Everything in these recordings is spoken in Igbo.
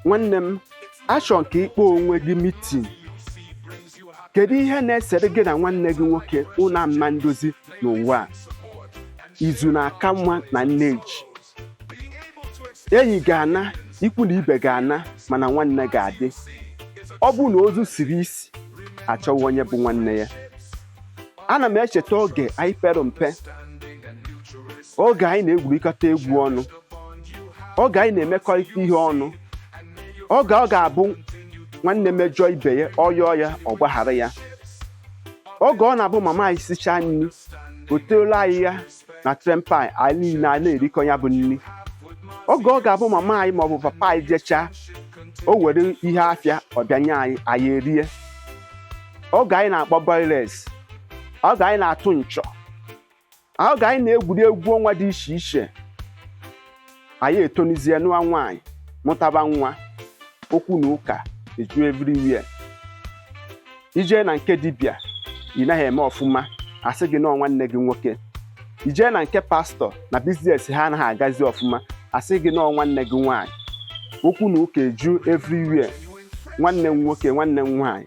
nwanne m achọ m ka ị kpọọ onwe gị mitin kedu ihe na-esere gị na nwanne gị nwoke unu ama ndozi n'ụwa a izu na-aka mma na nne ji enyi ga-ana ikwu na ibe ga-ana mana nwanne ga-adị ọ bụrụ na ozu siri isi achọwa onye bụ nwanne ya ana m echeta oge anyị pere mpe oge anyị na-egwurịkọta egwu ọnụ oge anyị na-emekọrịta ihe ọnụ oge ọ ga-abụ nwanne mejọọ ibe ya ọ yọọ ya ọ gbaghara ya oge ọ na-abụ mama anyị sichaa nri ọ tọọlụ anyị ya na tray pan anyị niile a na-erikọ ya bụ nri oge ọ ga-abụ mama anyị maọbụ papa anyị jechaa o were ihe afịa ọ bịa nye anyị anyị erie oge anyị na-akpọ boiles oge anyị na-atụ nchọ oge anyị na-egwuri egwu ọnwa dị iche iche anyị etonizie nụwa nwaanyị mụtaba nwa okwu na ụka eju everywhere i jee na nke dibịa ị naghị eme ọfụma a sị gị na ọ nwanne gị nwoke i jee na nke pastọ na biznes ha anaghị agazi ọfụma a sị gị na ọ nwanne gị nwaanyị okwu na ụka eju everywhere nwanne m nwoke nwanne m nwaanyị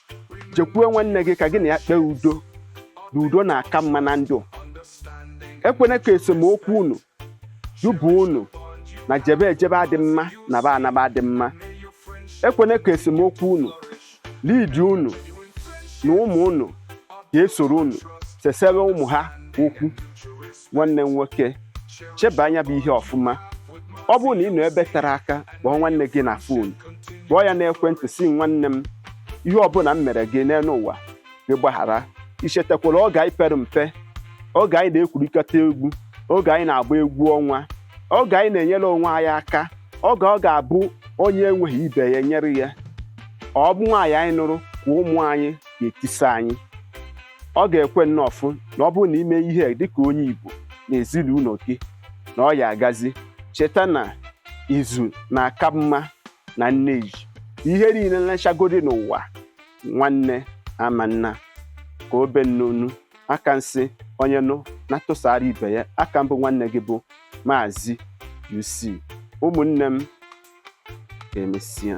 jekwuo nwanne gị ka gị na ya kpee udo na udo na-aka mma na ndụ ekwena ka esemokwu unu duba unu na jebe ejebe adị mma naba anaba adị mma ekwena ka esemokwu unu lidi unu na ụmụ unu ga-esoro unu sesewe ụmụ ha okwu nwanne m nwoke cheba nya bụ ihe ọfụma ọ bụrụ na ị nọ ebe tere aka kpọọ nwanne gị na fon kpọọ ya n'ekwentị sị nwanne m ihe ọbụla m mere gị n'elu ụwa gị gbaghara i chetakwara oge anyị pere mpe oge anyị na-egwurikọta egwu oge anyị na-agba egwu ọnwa oge anyị na-enyere onwe anyị aka oge ọ ga-abụ onye enweghị ibe ya nyere ya ọ bụ nwaanyị anyị nụrụ ka ọ ụmụ anyị ga-etisa anyị ọ ga-ekwe nnọọ fụ na ọ bụrụ na i mee ihe dịka onye Igbo na ezinụlọ gị na ọ ya-agazi cheta na izu na-aka mma na nne ji ihe niile m lechagodi n'ụwa nwanne ama nna ka obe nnonu aka m sị onye nụ na-atụsara ibe ya aka m bụ nwanne gị bụ maazị UC ụmụnne m ka emesịa